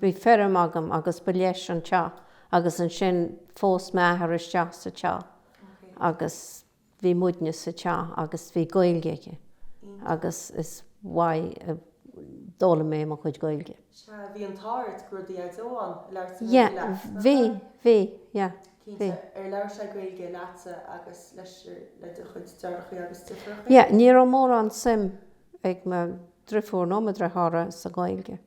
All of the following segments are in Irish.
Bhí feirm againn agus ba leis an teach agus ansin phós m'athair isteach sa teach agus bhí muidne sa teach agus bhí Gaeilge aige agus is uaidh a d'fhoghlaim mé mo chuid Gaeilge. Sea, bhí an t-ádh ort go raibh do dhaideo ann, labhair sé Gaeilge leat, nach raibh? Yeah, bhí, bhí, yeah, bhí. Cinnte. Ar labhair sé Gaeilge leatsa agus leis, le do chuid deartháireachaí agus driofúrachaí? Yeah, ní raibh mórán suim ag mo dhriofúr ná mo dhriotháir sa Ghaeilge.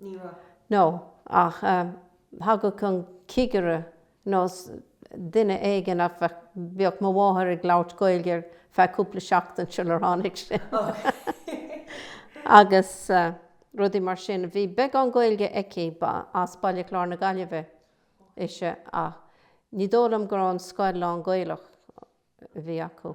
Ní raibh. No, ach thagadh an cigire nó duine éigin bheadh mo mháthair ag labhairt Gaeilge ar feadh cúpla seachtain sular tháinig sé. Agus rudaí mar sin. Bhí beagán Gaeilge aici, ba as Baile Chláir na Gaillimhe ise ach ní dóigh liom gur an scoil lán-Ghaelach a bhí acu.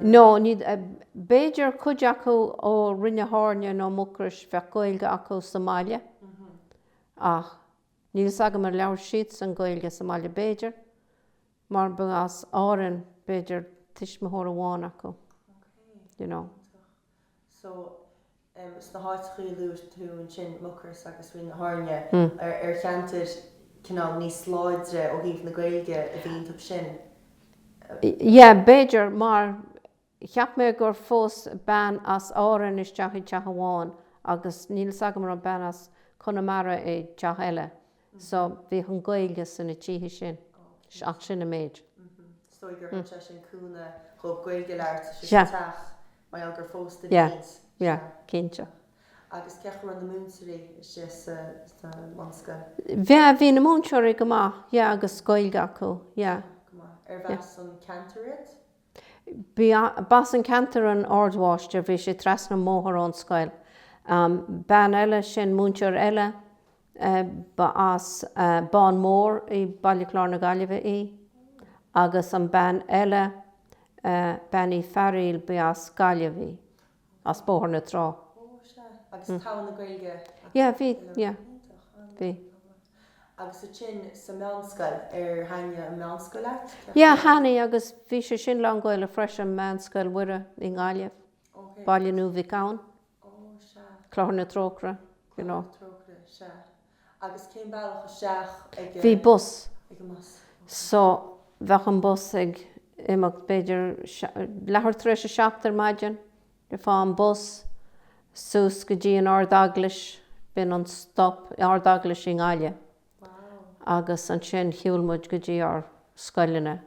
No, ní, b'fhéidir cuid acu ó Rinn na hAirne nó Mucros, bheadh Gaeilge acu sa mbaile, ach níl 'fhios agam ar labhair siadsan Gaeilge sa mbaile, b'fhéidir, mar ba as Árainn, b'fhéidir, tuismitheoir amháin acu, you know. So, sna háiteachaí a luaigh tú ansin, Mucros agus Rinn na hAirne, ar cheantar cineál níos láidre ó thaobh na Gaeilge a bhí iontu sin? Yeah, b'fhéidir, mar cheap mé gur phós bean as Árainn isteach i dteach amháin agus níl 's agam an raibh bean as Conamara i dteach eile. So, bhíodh an Ghaeilge sna tithe sin, ach sin an méid. So, gur thug sé sin cúnamh dhób Gaeilge a labhairt sa teach mar gheall gur phós daoine isteach? Yeah, yeah, cinnte. Agus cén chaoi a raibh na múinteoirí istigh sa mbunscoil? Yeah, bhí na múinteoirí go maith, yeah, agus Gaeilge acu, yeah. Go maith. Arbh as an gceantar iad? B'as an gceantar an ardmháistir, bhí sé trasna an bhóthair ón scoil. Bean eile sin, múinteoir eile, Ba as an mBán Mór i Baile Chlár na Gaillimhe í agus an bhean eile, Bean Uí Fhearghail, ba as Gaillimh í, as Bóthar na Trá. Ó, sea. Agus togha na Gaeilge acu fhéin, a. Yeah, bhí, yeah. Iontach, an bhfuil? Bhí. Agus ansin sa meánscoil, ar thaitnigh an meánscoil leat, cén chaoi? Yeah, thaitnigh agus bhí sé sin lán-Ghaelach freisin, Meánscoil Mhuire i nGaillimh, Baile Nua Mhic Gabhann. Ó, sea. Clochar na Trócaire, you know. Clochar na Trócaire, sea. Agus cén bealach isteach a bhí agat. Bhí bus. Ag an mbus, ok. So, bheadh an bus ag imeacht, b'fhéidir, leathuair tar éis a seacht ar maidin, gheofá an bus suas go dtí an Ard-Eaglais, b'in an stop, Ard-Eaglais i nGaillimh. Wow. Agus ansin, shiúil muid go dtí ár scoileanna.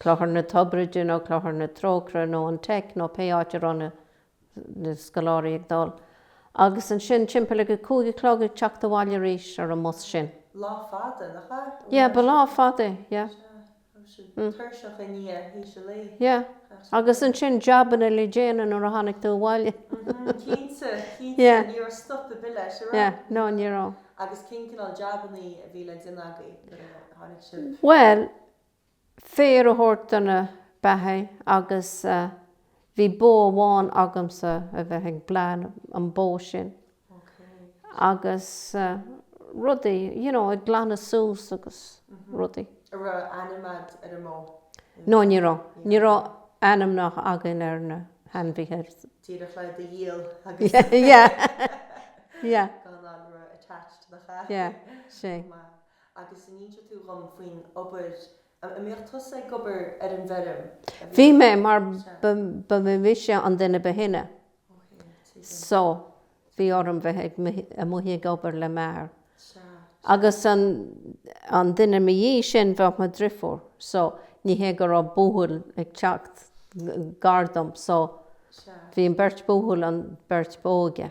Clochar na Toirbhirte nó Clochar na Trócaire nó an Teic nó pé áit a raibh na scoláirí ag dul. Agus ansin timpeall ag a cúig a chlog ag teacht abhaile arís ar an mbus sin. Lá fada, nach ea? Yeah, ba lá fada é, yeah. Sea. Tuirseach i ndiaidh th'éis an lae. Yeah. Agus ansin jabanna le déanamh nuair a tháinig tú abhaile. Mhm. Cinnte, cinnte. Ní raibh stop ar bith leis, a raibh? Yeah. No, ní raibh. Agus cén cineál jabannaí a bhí le déanamh agaibh nuair a tháinig sibh? Bhuel, féar a thabhairt do na beathaigh agus bhí bó amháin agamsa a bheith ag bleán an bó sin agus rudaí, you know, ag glanadh suas agus rudaí. An raibh ainm a'd ar an mbó? No, ní raibh. Ní raibh ainmneacha againn ar na hainmhithe. Díreach le iad a dhíol agus. Yeah, yeah. Gan éirí attached nach ea? Yeah, sea. Agus an inseoidh tú dhom faoin obair An mbíodh tusa ag obair ar an bhfeirm ansin? Bhí mé, mar ba mise an duine ba shine. So, bhí orm bheith amuigh ag obair le m'athair. Agus an duine mo dhiaidh sin, bheadh mo dhriofúr. So, ní hé go raibh buachaill ag teacht gar dom. So, bhí an beirt buachaill, an bheirt óige.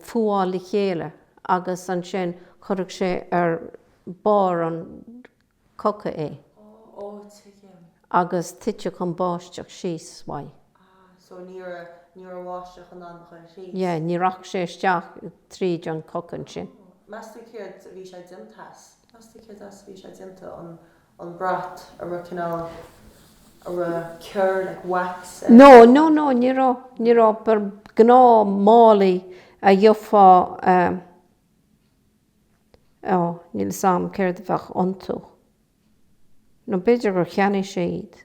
fuáil le chéile agus ansin chuirfeadh sé ar barr an coca é agus tuitfeadh an báisteach síos uaidh. Yeah, ní rachadh sé isteach tríd an choca ansin. an brat a raibh cineál, ar cuireadh like wax air. No, no, no, ní raibh, ní raibh, but gnáth málaí a gheofá eh, oh níl 'fhios a'm céard a bheadh iontu, nó b'fhéidir gur cheannaigh sé iad.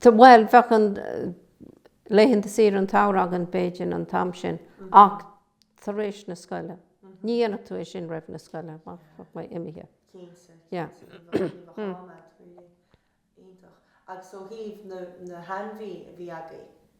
Bhuel, bheadh an, laethanta saoire an tsamhraidh againn b'fhéidir an t-am sin ach tar éis na scoile, ní dhéanfadh tú é sin roimh an scoil, bheadh mé imithe. Cinnte, cinnte, ní bheadh, ní bheadh am a'd really. Iontach. Agus ó thaobh na, na hainmhithe a bhí agaibh,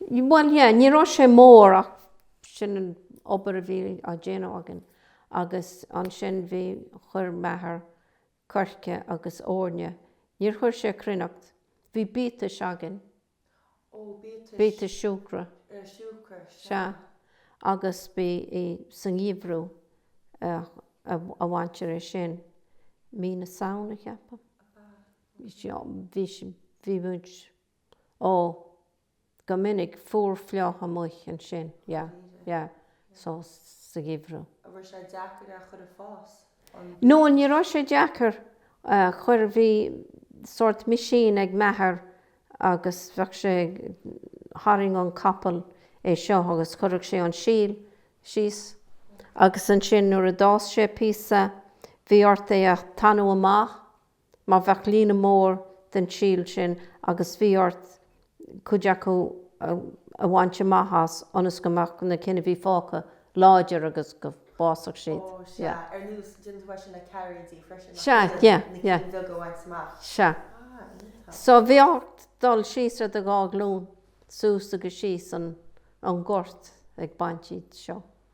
Bhuel, yeah, ní raibh sé mór ach sin an obair a bhí á déanamh againn agus ansin bhí, chuir m'athair coirce agus eorna, níor chuir sé cruithneacht, bhí biatais againn. Ó, biatais. Biatais siúcra. Eh, siúcra, sea. Sea, agus b'é sa ngeimhreadh a bhaintear é sin, mí na Samhna, ceapaim. Ab ea? Bhí sí, bhí sí, bhí muid. Ó, go minic fuar fliuch amuich ansin, yeah, yeah, so sa gheimhreadh. An raibh sé deacair é a chur ar fás? An. No, ní raibh sé deacair a chur, bhí sort machine ag m'athair agus bheadh sé ag, tharraingeodh an capall é seo agus chuirfeadh sé an síl síos agus ansin nuair a d'fhás sé píosa bhí ort é a tanú amach mar bheadh líne mór den tsíl sin agus bhí ort cuid acu a bhaint amach as ionas go mbeadh na cinn a bhí fágtha láidir agus go bhfásfadh siad. Ó, sea. Ar nós, déanann tú é sin le cairéidí freisin, nach ndéanann? Sea, yeah, yeah. Na cinn bheaga a bhaint amach. Sea. Ah, iontach. So, bhí ort dul síos ar do dhá ghlúin suas agus síos an gort ag baint iad seo.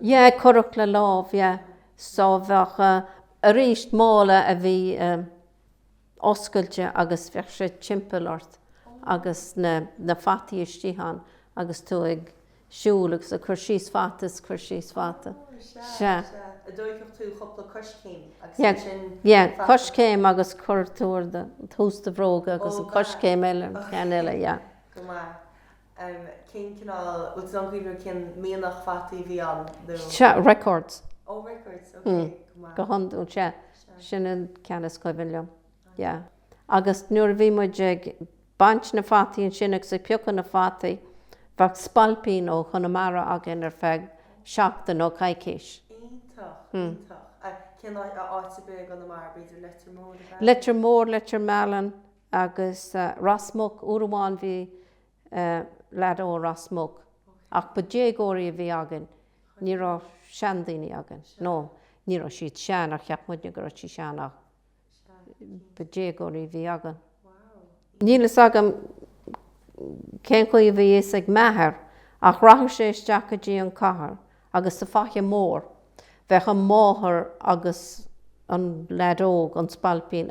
Yeah, cuireadh le lámh, yeah. So bheadh, arís, mála a bhí oscailte agus bheadh sé timpeall ort agus na fataí istigh ann agus tú ag siúl ag cur síos fata is cur síos fata. Sea. Yeah, coiscéim agus cuir tú ag tús do bhróga agus an coiscéim eile, an ceann eile, yeah. Cén cineál, bhfuil tú in ann cuimhniú ar cén mianach fataí a bhí ann nó? Sea, Records. Ó, Records, ok, go maith. Go hiondúil, sea, sin an ceann is cuimhin liom, yeah. Agus nuair a bhí muid ag baint na fataí ansin agus ag piocadh na fataí, bheadh spailpín ó Chonamara againn ar feadh seachtain nó coicís. Iontach, iontach. Cén áit i gConamara, b'fhéidir Leitir Móir, ab ea? Leitir Móir, Leitir Mealláin, Agus Ros Muc, uair amháin bhí lead ó Ros Muc, ach ba déagóirí a bhí againn, ní raibh seandaoine againn, nó ní raibh siad sean ach cheap muidne go raibh siad sean ach ba déagóirí a bhí againn. Níl a fhios agam cén chaoi a bhí a fhios ag m'athair ach rachadh sé isteach go dtí an cathair agus sa Faiche Mór bheadh an mháthair agus an lead óg, an spailpín.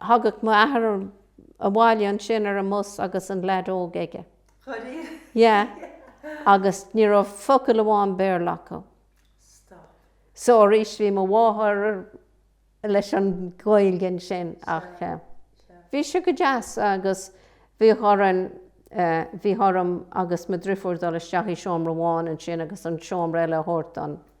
Thagadh m'athair abhaile ansin ar an mbus agus an leaid óg aige. An dtagadh? Yeah. Agus ní raibh focal amháin Béarla acu. Stop. So arís, bhí mo mháthair leis an Ghaeilge ansin ach eh. bhí sé go deas agus bhíodh orainn, bhíodh orm agus mo driofúr dul isteach i seomra amháin ansin agus an seomra eile a thabhairt don.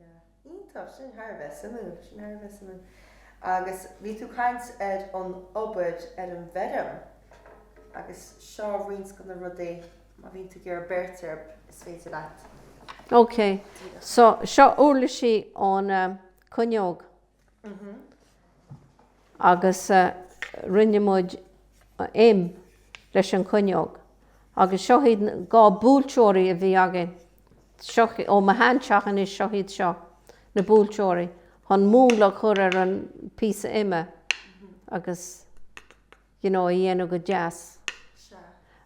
Yeah. Iontach. Sin thar a bheith suimiúil. Sin thar a bheith suimiúil. Agus bhí tú caint ar an obair ar an bhfeirm agus seo roinnt de na rudaí, má bhíonn tú ag iarraidh breith air, is féidir leat. Okay. So, seo uirlisí ón cuinneog. agus rinne muid im leis an chuinneog agus seo iad dhá buailteoirí a bhí againn ó mo shean teach anois, seo iad seo, na buailteoirí, chun múnla a chur ar an píosa ime agus you know a dhéanamh go deas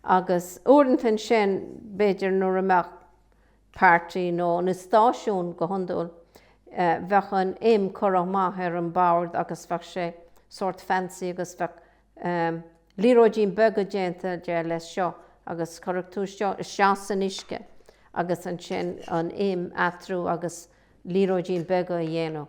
agus uaireanta ansin b'fhéidir nuair a bheadh páirtí nó na stáisiún go hiondúil, bheadh an im curtha amach ar an bord agus bheadh sé sórt fancy agus bheadh liathróidín beaga déanta de leis seo agus chuirfeadh tú seo isteach san uisce agus ansin an im eatarthu agus liathróidín beaga a dhéanamh.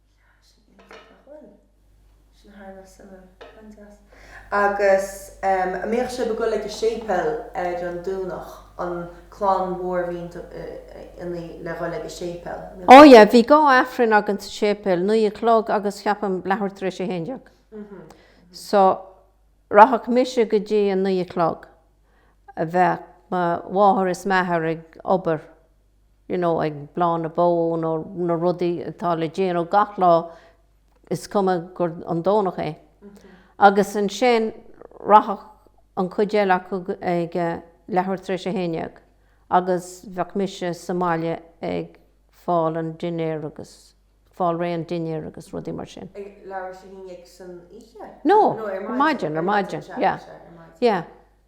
Agus an mbíodh sib ag goil ag an séipéal ar an Domhnach, an clann mhór mbíodh sib in ann a ghoil ag an séipéal? Ó yeah, bhí dhá Aifreann againn sa séipéal, naoi a chlog agus, ceapaim, leathuair tar éis a haon déag. So, rachadh mise go dtí an naoi a chlog. Bheadh mo mháthair is m'athair ag obair. you know, ag bleán na mbó nó na rudaí atá le déanamh gach lá is cuma gur an Domhnach é agus ansin rachadh an cuid eile acu ag leathuair tar éis a haon dhéag agus bheadh mise sa mbaile ag fáil an dinnéir agus fáil réidh an dinnéir agus rudaí mar sin. Ag leathuair tar éis a haon dhéag san oíche? No, ar maidin, ar maidin, yeah, yeah.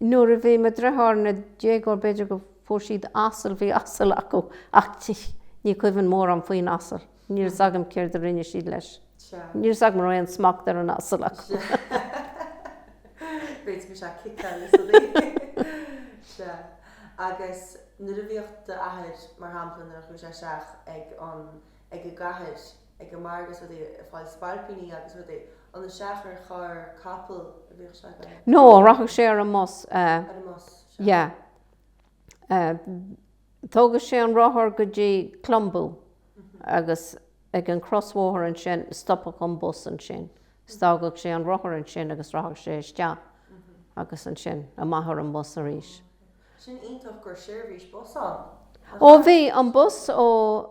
Nuair a bhí mo dreithiúr ina déagóir b'fhéidir go fuair siad asal, bhí asal acu ach ní cuimhin mórán faoin asal, níl fhios agam céard a rinne siad leis, níl fhios agam a raibh aon smacht ar an asal acu. ag an margadh ag fáil spailpíní agus rudaí, an isteach ar charr, capall a bhíodh sé. No, rachadh sé ar an mbus. Ar an mbus, sea. Yeah. Thógadh sé an rothar go dtí Clonboo agus ag an chrosbhóthar ansin, stopfadh an bus ansin is d'fhágadh sé an rothar ansin agus rachadh sé isteach agus ansin amach ar an mbus arís. Sin iontach go raibh seirbhís bus ann. Ó bhí, an bus ó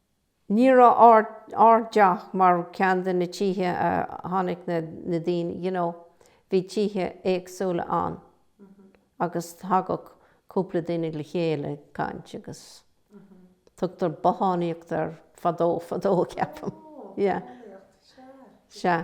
Ní raibh ár dteach mar ceann de na tithe a tháinig na daoine, you know, bhí tithe éagsúla ann agus thagadh cúpla daoine le chéile ag caint agus tugtar bothánaíocht air fadó fadó ceapaim, yeah, sea.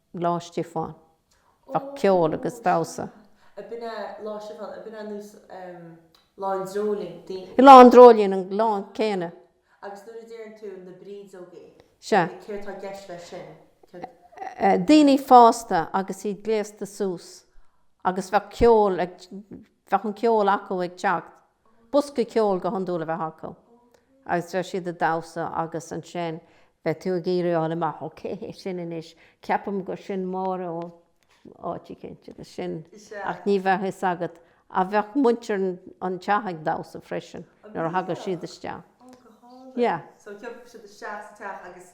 Lá Stiofáin. Bheadh ceol agus damhsa. ab in é Lá Stiofáin ab in é nós um Lá an Dreoilín, daoine. Lá an Dreoilín an lá céanna. Agus nuair a deireann tú na brídeogaí, Sea. like céard tá i gceist leis sin? Céard. eh daoine fásta agus iad gléasta suas agus bheadh ceol ag, bheadh an ceol acu ag teacht. bosca ceoil go hiondúil a bheith acu agus bheadh siad ag damhsa agus ansin bheadh tú ag iarraidh a fháil amach ó cé hé sin anois, ceapaim gur sin Máire ó áit eicínt agus sin, ach ní bheadh fhios agat ach bheadh muintir an tí ag damhsa freisin nuair a thagadh siad isteach. Yeah. So thiocfadh siad isteach sa teach agus.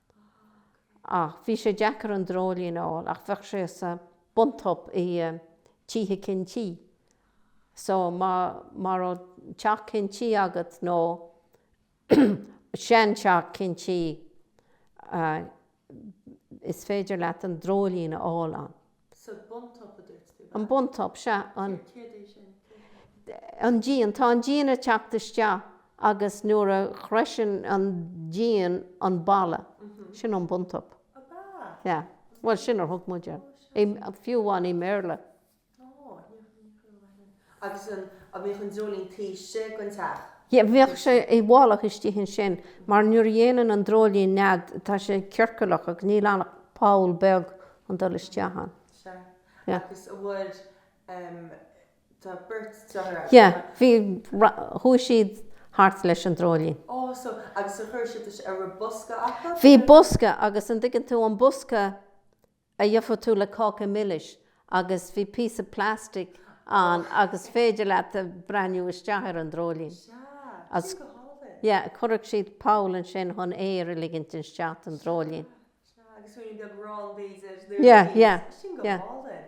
Ach bhí sé deacair an dreoilín a fháil, ach bheadh sé sa buntop i tithe cinn tuí. So má raibh teach cinn tuí agat nó seanteach cinn tuí, is féidir leat an dreoilín a fháil ann. Sea, buntop a dúirt tú. An buntop, sea. An. Céard é sin? Céard é sin? An díon. Tá an díon ag teacht isteach agus nuair a shroiseann an díon an balla, sin an buntop. Ab ea? Yeah. Bhuel, sin ar thug muid air. Ó, sure. Fiú amháin i mBéarla. Ó, ní raibh mé chomh maith sin. Agus an mbeadh an dreoilín taobh istigh den teach? Yeah, bheadh sé i bhfolach istigh ansin, mar nuair a dhéanann an dreoilín nead, tá sé ciorcalach agus níl ann ach poll beag chun dul isteach ann. Sea. Yeah. Agus an bhfuil, em, tá beirt deartháir agat? Yeah, bhí, chuaigh siad thart leis an dreoilín. Ó, so, agus ar chuir siad isteach, an raibh bosca acu? Bhí bosca, agus an dtuigeann tú, an bosca a gheofá tú le cáca milis agus bhí píosa plastic ann agus féidir leat a breathnú isteach ar an dreoilín. Sea, sin go hálainn. Yeah, chuireadh siad poll ansin chun aer a ligint isteach don dreoilín. Sea, sea, agus ruainne beag aráin b'fhéidir an dtuairimí. Yeah, yeah, yeah. Sea, sin go hálainn.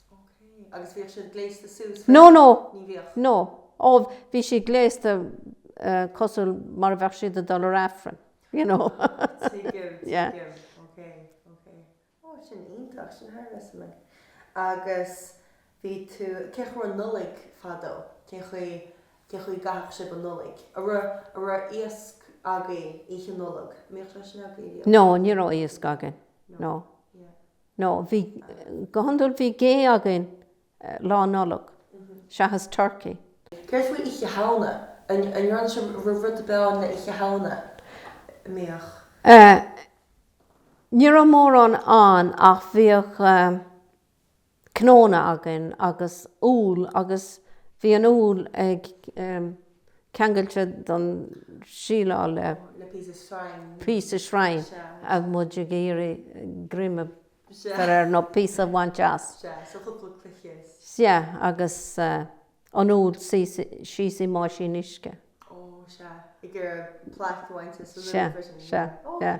No, no. No. Ó, bhí siad gléasta cosúil mar a bheadh siad ag dul ar Aifreann, you know. Yeah. No, ní raibh iasc againn. No. No, bhí, go hiondúil bhí gé againn Lá Nollag, seachas turkey. Céard faoi Oíche Shamhna? An ndearna sibh rud ar bith le haghaidh Oíche Shamhna? An mbíodh. Ní raibh mórán ann ach bhíodh cnónna againn agus úll agus bhí an úll ag. ceangailte don síleáil le píosa sreang agus muid ag iarraidh greim a chur air nó píosa a bhaint as. Sea, agus an úll síos i mbáisín uisce. Sea, sea, yeah.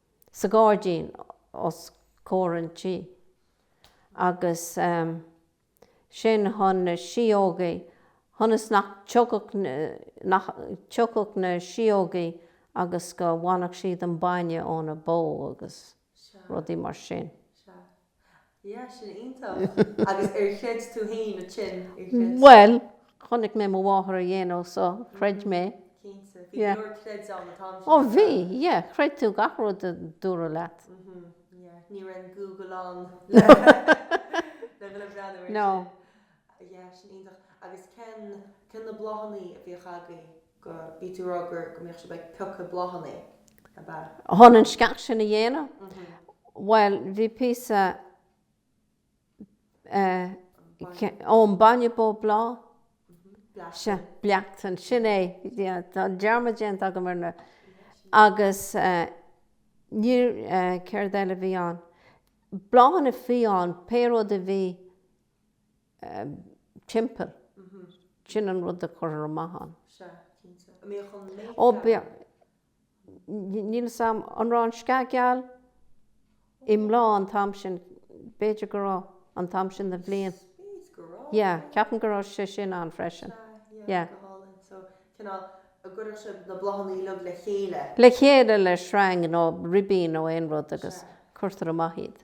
sa ghairdín os comhair an tí agus sin chun na síógaí, chun is nach dtiocfadh, nach dtiocfadh na síógaí agus go bhainfeadh siad an bainne óna bó agus rudaí mar sin. Sea. Sea. Bhuel, chonaic mé mo mháthair á dhéanamh so chreid mé. Ó bhí, yeah, chreid tú gach rud a dúradh leat. No. go bhí tú a rá gur, go mbíodh sibh ag piocadh bláthannaí, ab ea? Chun an sceach sin a dhéanamh? Bhuel, bhí píosa eh, ón bainne bó bláth? Sea, bleachtáin, sin é, tá dearmad déanta agam ar na, agus eh, níor, eh, céard eile a bhí ann? Bláthanna fiáin, pé rud a bhí, timpeall. Sin an rud a chuirtear amach ann. Sea, cinnte. An mbíodh an méid Ó, geal bhíodh. ann. Níl 'fhios a'm, an raibh an sceach gheal i mbláth an t-am sin, b'fhéidir go raibh, an t-am sin den bhliain. Spéis go raibh, Yeah, yeah. ceapaim go raibh sé sin ann freisin. Sea, yeah, Yeah. go hálainn. So, cineál, an gcuireadh siad na bláthanna uilig le chéile. Le chéile le sreang nó ribín nó aon rud agus Sea. cuirtear amach iad.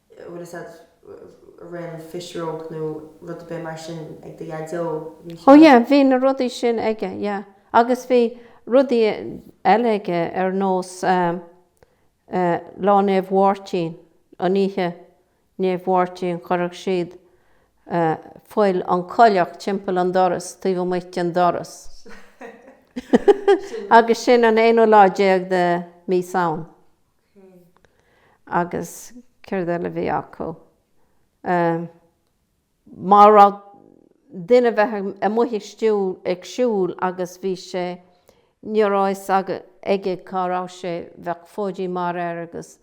bhfuil fhios a'd raibh aon phisreog nó rud a' bith mar sin ag do dhaideo, bhí sé. Oh yeah, bhí na rudaí sin aige, yeah. Agus bhí rudaí eile aige ar nós eh, Lá Naomh Mháirtín, an oíche Naomh Mháirtín chuirfeadh siad eh, fuil, an coileach timpeall an doras, taobh amuigh den doras. Agus sin an aonú lá déag de Mí Samhain. Agus céard eile a bhí acu? Ehm. má raibh duine ar bith amuigh ag siúl agus bhí sé. ní raibh fhios aige cá raibh sé, bheadh fóidín mearaí air agus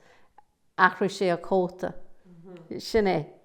athraigh sé a chóta. Sin é.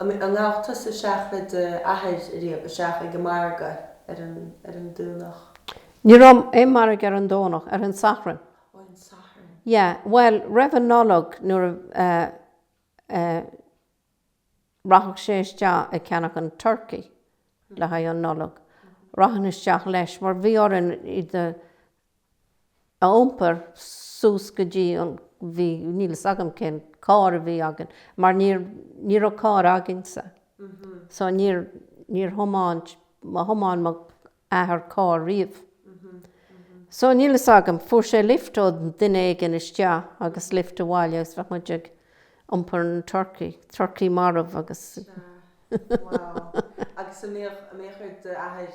An ngabh tusa isteach le do athair ariamh isteach ag an margadh ar an, ar an Domhnach. Ní raibh aon margadh ar an Domhnach, ar an Satharn. Ó, ar an Satharn. Yeah, bhuel, roimh an Nollaig nuair a, eh, eh, rachadh sé isteach ag ceannach an turcaí le haghaidh an Nollaig. Rachainn isteach leis, mar bhí orainn iad a a iompar suas go dtí an bhí, níl fhios agam cén carr a bhí againn, mar níor, ní raibh carr againn-sa. So níor, níor thiomáint, níor thiomáin mo athair carr riamh. So níl fhios agam, fuair sé lift ó duine éigin isteach agus lift abhaile agus bheadh muid ag iompar na turcaí, turcaí marbh agus. Sea. Wow. Agus a mbíodh, a mbíodh ar d'athair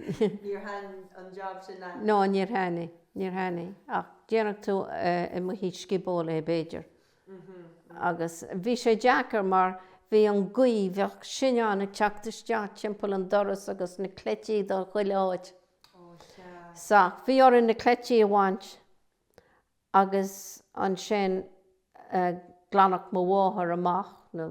Níor thaithin an jab sin leat? No, níor thaithin, níor thaithin. Ach déanfadh tú amuigh sa scioból é b'fhéidir. Agus bhí sé deacair mar bhí an gaoth, bheadh sinneán ag teacht isteach timpeall an doras agus na cleití dul chuile áit. So, bhí orainn na cleití a bhaint agus ansin glanfadh mo mháthair amach na.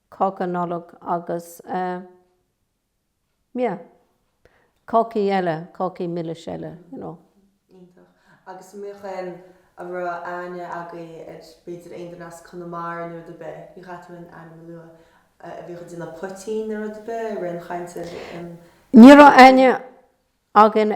cáca Nollag agus eh. yeah. cácaí eile, cácaí milis eile, you know. Iontach. Agus an mbeadh em. a raibh aithne agaibh ar, b'fhéidir, aon duine as Conamara nó rud ar bith, ní chaithfear aon ainm a lua, a a bhíodh ag déanamh poitín nó rud ar bith i rith an ama sin em. Ní raibh aithne againn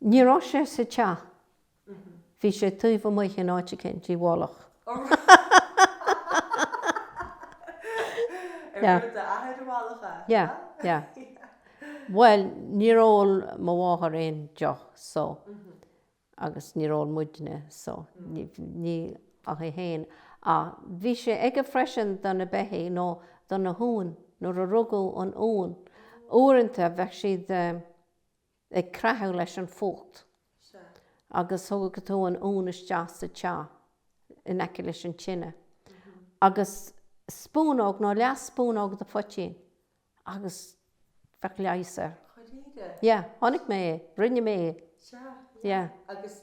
Ní raibh sé sa teach. Bhí sé taobh amuigh in áit éicint, i bhfolach. Ag d'athair i bhfolach? Yeah, yeah. Bhuel, níor ól mo mháthair aon deoch, so, agus níor ól muidne, so, ní ach í féin. Ach bhí sé aige freisin do na beithígh nó do na huain, nuair a rugadh an uan, uaireanta bheadh siad. ag creathadh leis an fuacht. Agus thugadh tú an uan isteach sa teach in aice leis an tine, agus spúnóg nó leath spúnóg de phoitín, agus bheadh biseach air. Dháiríre? Yeah. Chonaic mé é. Rinne mé é. Sea, yeah. Agus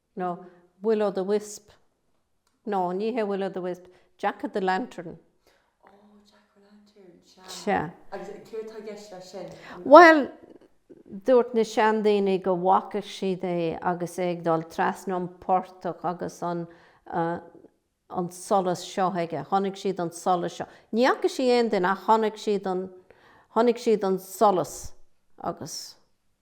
nó Will o' the Wisp, no, ní hé Will o' the Wisp, Jack o' the Lantern. Oh, Jack o' Lantern, sea. Sea. Agus céard tá i gceist leis sin? Bhuel, dúirt na seandaoine go bhfaca siad é agus é ag dul trasna an portach agus an, an solas seo aige, chonaic siad an solas seo. Ní fhaca siad aon duine ach chonaic siad an, chonaic siad an solas agus.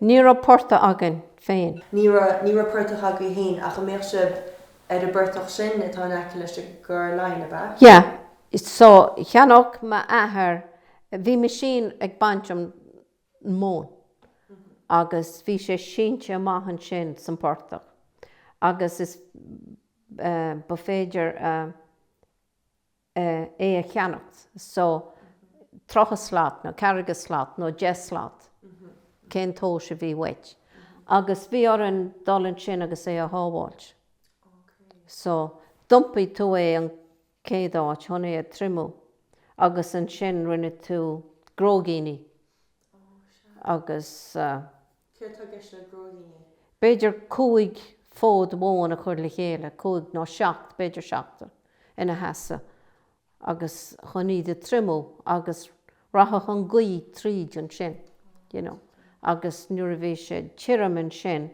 Ní raibh portach againn féin. Ní raibh portach agaibh fhéin, ach an mbeadh sibh ar an bportach sin atá in aice leis an gCorr Laighin, ab ea? Yeah, so cheannódh m'athair, bhí meaisín ag baint an mhóin agus bhí sé sínte amach ansin san portach agus is, ba féidir a, é a cheannacht, so, tríocha slat nó ceathracha slat nó deich slat, cén tomhas a bhí uait. Agus bhí orainn dul ansin agus é a shábháilt. So, d'iompaigh tú é an céad áit chun é a triomú agus ansin rinne tú gróigíní. agus b'fhéidir cúig fód mhóin a chur le chéile, cúig nó seacht, b'fhéidir seachtar, ina sheasamh agus chun iad a triomú agus rachadh an gaoth tríd ansin, you know, agus nuair a bhí sé tirim ansin,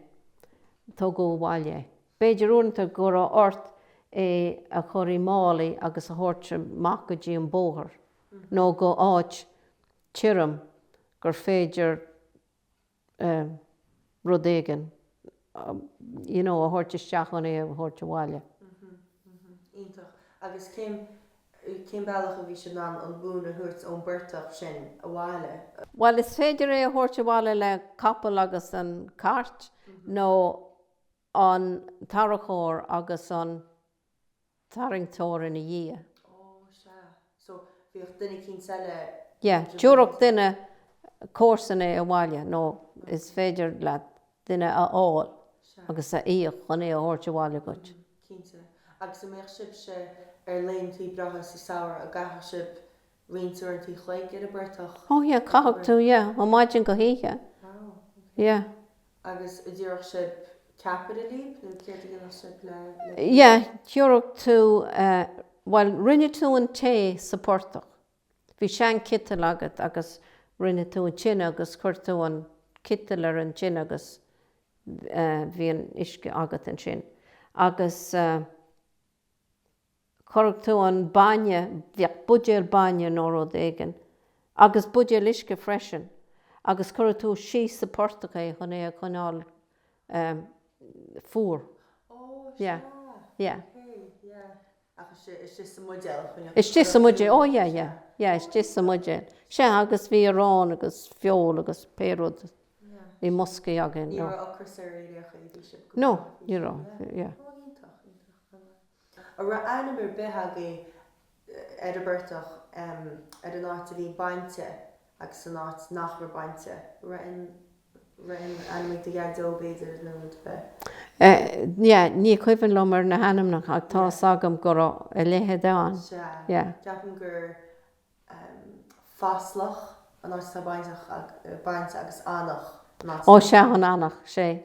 tugadh abhaile é. B'fhéidir uaireanta go raibh ort é a chur i málaí agus a thabhairt amach go dtí an bóthar nó go áit tirim gur féidir rud éigin you know a thabhairt isteach chun é a thabhairt abhaile. Mh, mh, iontach. Agus cén, cén bealach a bhí sibh in ann an mhóin a thabhairt ón bportach sin abhaile? Bhuel, is féidir é a thabhairt abhaile le capall agus an cairt nó an tarracóir agus an. tarraingteoir ina dhiaidh. Ó, sea. So, bhíodh duine eicínt eile Yeah, tabharfadh duine comharsan é abhaile, nó is féidir leat duine a fháil Sea. agus a íoc chun é a thabhairt abhaile dhuit. Mm, cinnte. Agus an mbeadh sibhse ar laethanta breátha sa samhradh a gcaithfeadh sibh roinnt uaireanta chloig ar a bportach? Ó, yeah, caithfeadh tú, yeah, ó maidin go hoíche. Wow, ok. Yeah. Agus an dtabharfadh sib ceapairí líb? Nó céard a dhéanfadh sib le? Yeah, thiúrfadh tú eh, bhuel, rinne tú an tae sa portach, bhí seanchiteal agat agus rinne tú an tine agus chuir tú an citeal ar an tine agus eh, bhí an uisce agat ansin agus eh, chuirfeadh tú an bainne, bhíodh buidéal bainne nó rud éigin, agus buidéal uisce freisin, agus chuirfeadh tú síos sa portach é chun é a choinneáil fuar. Oh, sea. Yeah. Ok, yeah. Agus istigh, istigh sa mbuidéal a choinneodh tú? Istigh sa mbuidéal. Oh, yeah, yeah. Yeah, istigh sa mbuidéal. Sea, agus bhí arán agus feoil agus pé rud i mboscaí againn. Ní raibh ocras ar éinne agaibh, bhí sibh go breá. No, ní raibh. Yeah. Oh, iontach, iontach. An raibh ainm ar bith agaibh ar an bportach, ar an áit a bhí bainte agus san áit nach raibh bainte? Raibh aon ainm ag do dhaideo, b'fhéidir, nó b'fhéidir? Yeah, ní cuimhin liomsa na hainmneacha ach tá's agam go raibh a leithéid ann. Sea. Ceapaim gur Fáslach an áit atá bainteach, bainte agus Eanach an áit atá. Ó sea, an Eanach, sea.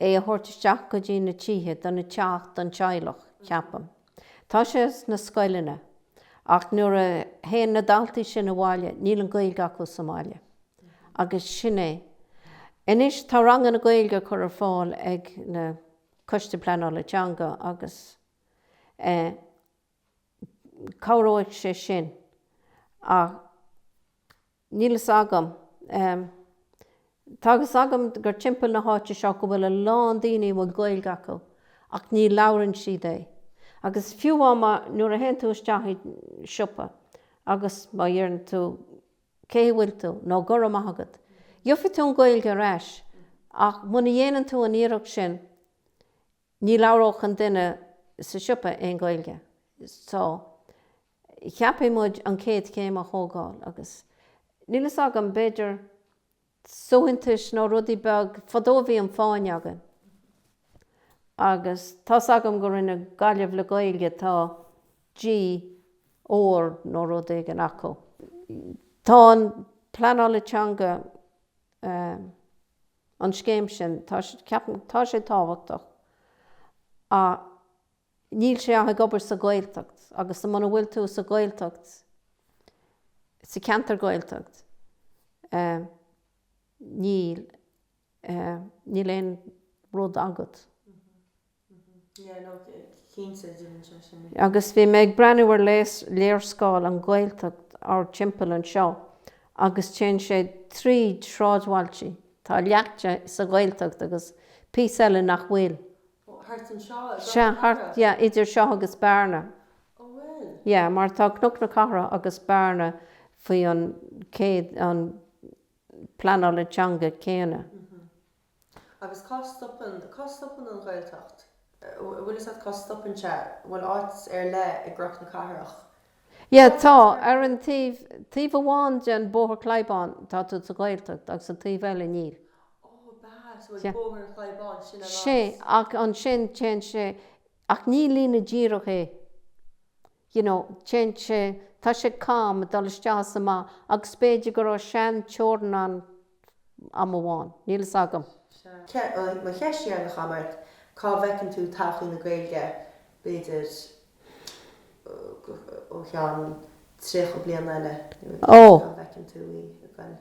é a thabhairt isteach go dtí na tithe do na teach don teaghlach, ceapaim. Tá sé sna scoileanna, ach nuair a théann na daltaí sin abhaile, níl an Ghaeilge acu sa mbaile. Agus sin é. Anois, tá ranganna Gaeilge á gcur ar fáil ag na Coiste Pleanála Teanga agus eh cabhróidh sé sin, ach, Níl fhios agam. Tá a fhios agam gur timpeall na háite seo go bhfuil a lán daoine a bhfuil Gaeilge acu ach ní labhrann siad é. Agus fiú má, nuair a théann tú isteach i siopa agus má dheireann tú cén chaoi a bhfuil tú nó go raibh maith agat, gheobhaidh tú an Gaeilge ar ais ach muna dhéanann tú an iarracht sin ní labhródh an duine sa siopa aon Gaeilge. So. Caithfidh muid an chéad chéim a thógáil agus, níl fhios agam, b'fhéidir suaitheantais nó rudaí beag, fadó bhí an Fáinne againn agus tá's agam go rinne Gaillimh le Gaeilge, tá G ór nó rud éigin acu. Tá an pleanála teanga, ehm, an scéim sin, tá, ceapaim, tá sé tábhachtach ach. Níl sé ach ag obair sa Ghaeltacht agus sa, muna bhfuil tú sa Ghaeltacht, sa cheantar Ghaeltacht, níl, níl aon rud agat. Agus bhí mé ag breathnú ar léarscáil an Ghaeltacht thart timpeall anseo agus téann sé trí sráidbhailtí, tá leath de sa Ghaeltacht agus píosa eile nach bhfuil. Oh, thart anseo, is ea? Sea, thart, Bearna? yeah, idir seo agus Bearna. Oh, bhuel. Yeah, mar tá Cnoc na Cathrach agus Bearna faoi an chéad, an pleanála teanga céanna. Mm-hmm. Agus cá stopann, cá stopann an Ghaeltacht? Bhuel, is cá stopann sé? Bhuel, áit ar leith i gCroc na Cathrach, Yeah, tá, ar an taobh, taobh amháin den Bóthar Chlaí Bháin, tá tú sa Ghaeltacht, agus an taobh eile, níl. Ó, b'ea, so an Bóthar Chlaí Bháin, sin an áit. Ach ansin, téann sé, ach ní líne díreach é, you know, téann sé, tá sé cam ag dul isteach is amach, agus is féidir go raibh sean-teorainn ann am amháin. Níl fhios agam. Mo cheist dheireanach a Mháirt, cá bhfeiceann tú todhchaí na Gaeilge b'fhéidir i gceann 30 bliain eile nó cá bhfeiceann tú í i gcúrsaí Gaeilge nó.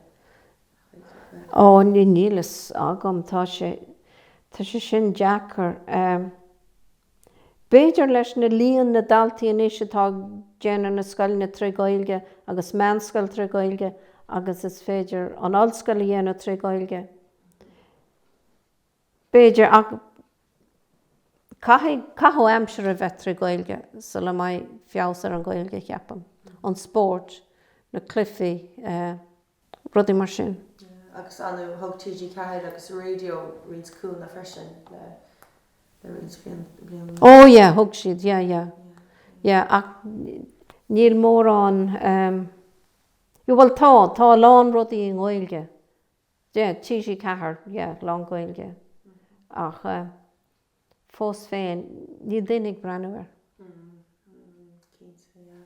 Ó, níl fhios agam. Tá sé, tá sé sin deacair. B'fhéidir leis na líon na daltaí anois atá ag déanamh na scoileanna trí Gaeilge agus meánscoil trí Gaeilge agus is féidir an ollscoil a dhéanamh trí Gaeilge b'fhéidir ach caithfidh caitheamh aimsire a bheith trí Gaeilge sula mbeidh feabhas ar an Gaeilge ceapaim, an spórt, na cluichí eh. rudaí mar sin. Agus ar ndóigh, thug TG4 agus raidió roinnt cúnamh freisin le roinnt bliain. Ó yeah, thug siad, yeah, yeah. Yeah, ach níl mórán, em, yeah, bhuel tá, tá a lán rudaí i nGaeilge, yeah, TG4, yeah, lán Gaeilge, ach fós féin, níl daoine ag breathnú air. Mm, mm, cinnte, yeah.